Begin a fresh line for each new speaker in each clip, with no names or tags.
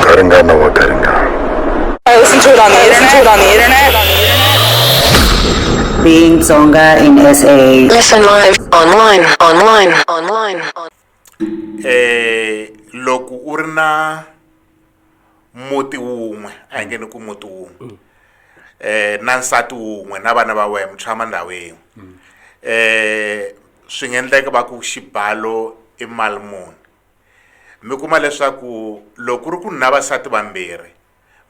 Garingana wa Garingana. I listen
to it on the internet. Listen to it on the internet.
Being Tsonga in SA. Listen live, online,
online, online. on- eh
loko u ri na muti wun'we a hi nge ni ku muti wun'we eh na nsati wun'we na vana va wena mi tshama ndhawu yin'we eh swi nga endleka va ku xibalo i mali muni mi kuma leswaku loko ku ri ku na vasati vambirhi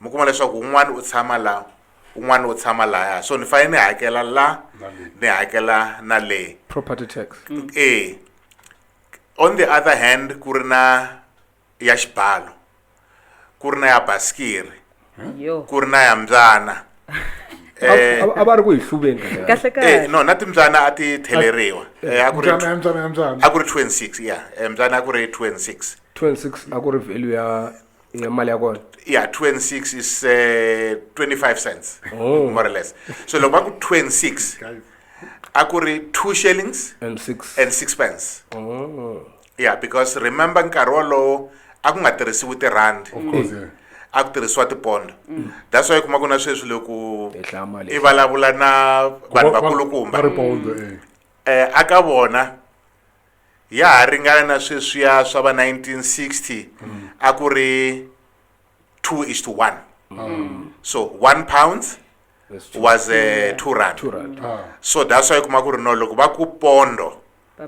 mi kuma leswaku un'wana u tshama la un'wana u tshama laya so ni fanele ni hakela la ni hakela na le property tax
e
on the other hand ku ri na ya xibalo ku ri na ya basikiri yo ku ri na ya mbyana Eh,
a va ri ku hi hluveni kahle kahle. eh, kahle no na
timbyana a ti
theleriwa Eh, a ku ri
mbyana
mbyana mbyana a ku ri 26 ya Eh, mbyana a ku ri
26 26 a ku ri value ya ya mali ya kona yeah 26
is uh, 25 cents Oh. more or less so loko va ku 26 a ku ri 2 shillings and six
and 6 pence Oh.
ya because remember nkarhi wolowo a ku nga tirhisiwi tirhandi
a ku tirhisiwa
tipondo mm. that's why kuma ku na sweswi loko i vulavula
na
vanhu vakulukumba eh.
eh a ka
vona ya ha ringana na sweswiya swa va 1960 mm. a ku ri 2 is to 1 mm. so 1 pounds was a eh, 2 rand ah. so
that's why kuma
ku ri no loko va ku pondo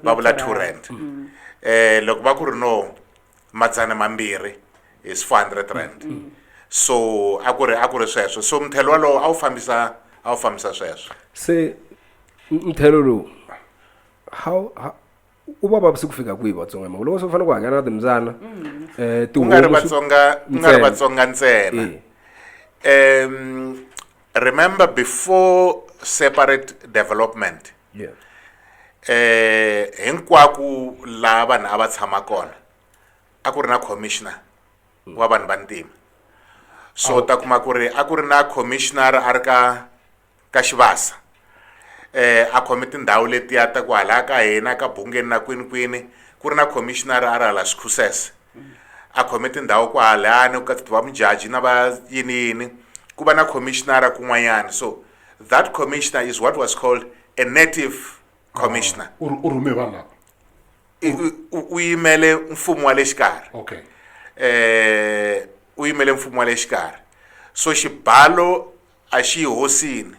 va vula two rand um loko va ku ri no madzana mambirhi is four hundred rand so a ku ri a ku ri sweswo so mthelo walowo a wu fambisa a wu fambisa sweswo se
mthelo lowu how u va vavisi ku fika kwihi vatsonga hi mhaka loko se u fanele ku hakela na timbyana um eh, ku nga
ri vatsonga ku nga ri vatsonga ntsena um remember before separate development hinkwako laha vanhu a va tshama kona a ku ri na commissioner wa vanhu va ntima so ta kuma ku ri a ku ri na commissioner a ri ka ka xivasa eh a khome tindhawu letiya ta ku hala ka hina ka bungeni na kwini kwini ku ri na commissioner a ri hala swikhusese a khome tindhawu ku halani ku katsiwa mujaji na va yini yini ku va na commissioner kun'wanyana so That commissioner is what was called a native commissioner. Ah, u rhume vanhu
lava u yimele
mfumo wa le xikarhi okay
eh
u yimele mfumo wa le xikarhi so xibalo a xi hosini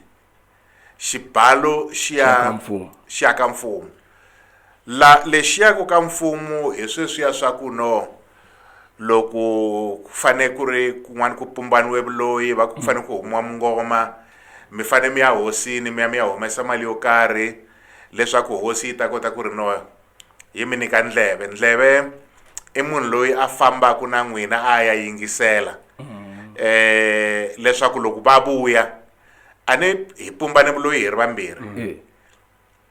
xibalo xi ya xi ya ka mfumo La lexiya ku ka mfumu hi sweswiya swa ku no loko ku fane ku ri kun'wana ku pumbaniwe vuloyi va ku fane ku humiwa mungoma mi fane mi ya hosini mi ya mi ya humesa mali yo karhi leswaku hosi yi ta kota ku ri no yi mi nyika ndleve ndleve i munhu loyi a fambaka na n'wina a ya yingisela um leswaku loko va vuya a ni hi pumbane vuloyi hi ri vambirhi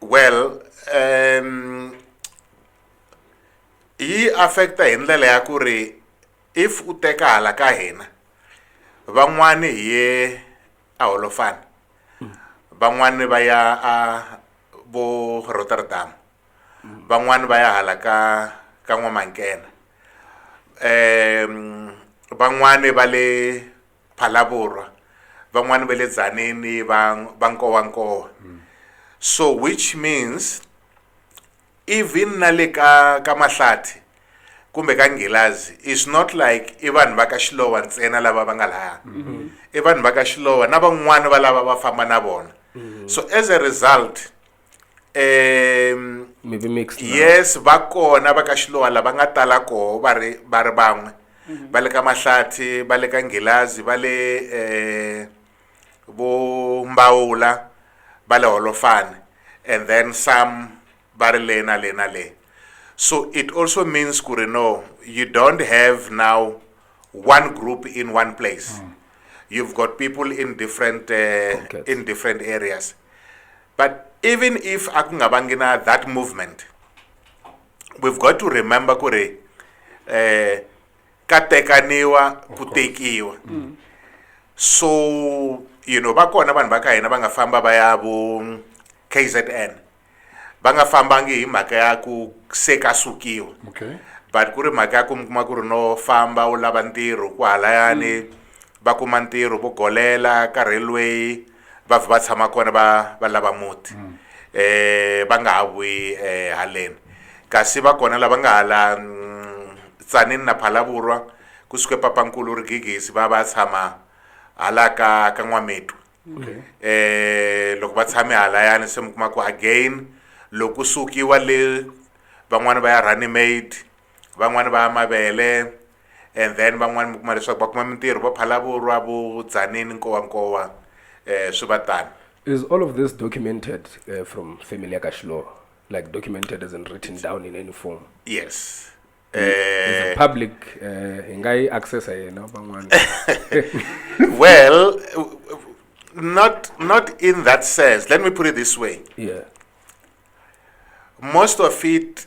well um yi affect-a hi ndlela ya ku ri if u teka hala ka hina van'wani hi ye a holofana van'wani va ya a vo rotterdam van'wani va ya hala ka ka n'wamankena um van'wani va le Phalaborwa van'wani va le Dzaneni va va Nkowankowa so which means even na le ka ka Mahlathi kumbe ka Nghilazi is not like i vanhu va ka Xilowa ntsena lava va nga laha i vanhu va ka Xilowa na van'wani va lava va famba na vona so as a result um
maybe mixed now. yes va kona
va ka xilowa lava nga tala koho va ri va ri van'we va le ka mahlathi va le ka nghilazi va le um vo mbawula va le holofane and then some va ri le na le na le so it also means ku ri no you don't have now one group in one place you've got people in different uh, Pockets. in different areas but even if a ku nga vangi na that movement we've got to remember ku ri eh ka tekaniwa ku tekiwa mm. so you know va kona vanhu va ka hina va nga famba va ya vo kzn va nga fambangi hi mhaka ya ku se ka sukiwa okay. but ku ri mhaka ya ku mi kuma ku ri no famba u lava ntirho ku halayani mm. va kuma ntirho vo golela ka railway va vhe va tshama kona va va lava muti um va nga ha vuyi um haleni kasi va kona lava nga hala tsanini na phalavurwa kusuke papankulu ri gigisi va va tshama hala ka ka n'wamitwa um loko va tshame halayani se mi kuma ku again loko ku sukiwa le van'wani va ya running made van'wani va ya mavele and then van'wani mi kuma leswaku va kuma mintirho va phalavurwa vo dzaneni nkowankowa um eh, swi va tani is all of this
documented uh, from family ya ka xiloro like documented as in written down in any form yes
eh
public eh hi nga yi accessa yena van'wana well
not not in that sense let me put it this way
yeah
most of it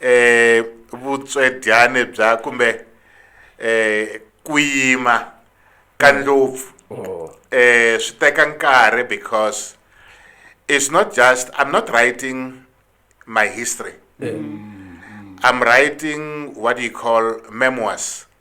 eh vutswedyane bya kumbe eh ku yima ka ndlopfu eh swi teka nkarhi because it's not just I'm not writing my history I'm writing what you call memoirs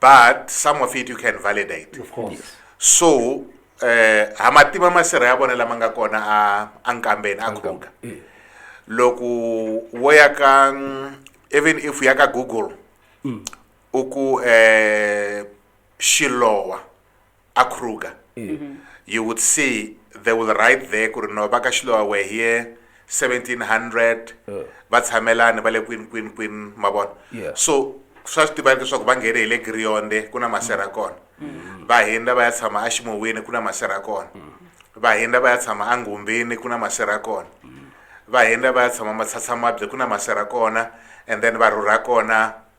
but some of it you can validate
of course yes. so
eh ha matima masirha ya vona lama nga kona a a nkambeni a khuga eh. loko wo ya ka even if ya ka google mm. u ku eh xilowa a kruger mm-hmm. you would see they will write there ku ri no va ka xilowa were here 1700 uh. va tshamelani va le kwini kwini kwini ma vona so swa swi tivani leswaku va nghene hi le grionde ku na masera mm. kona mm. va hindza va ya tshama aximowini ku na masera kona mm. va hindza va ya tshama angumbini ku na masera kona va hindza va ya tshama matshatsamabye ku na masera kona and then va rhurha kona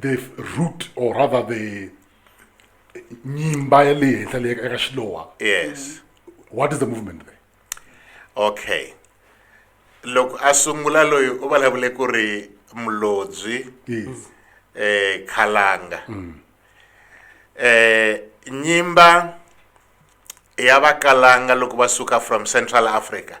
the
root or rather the nyimba ya le henhla leyi eka xilowa yes
what is the
movement there okay
loko a sungula loyi u vulavule ku ri mulobyi yes
eh khalanga
eh nyimba ya vakalanga loko va suka from central africa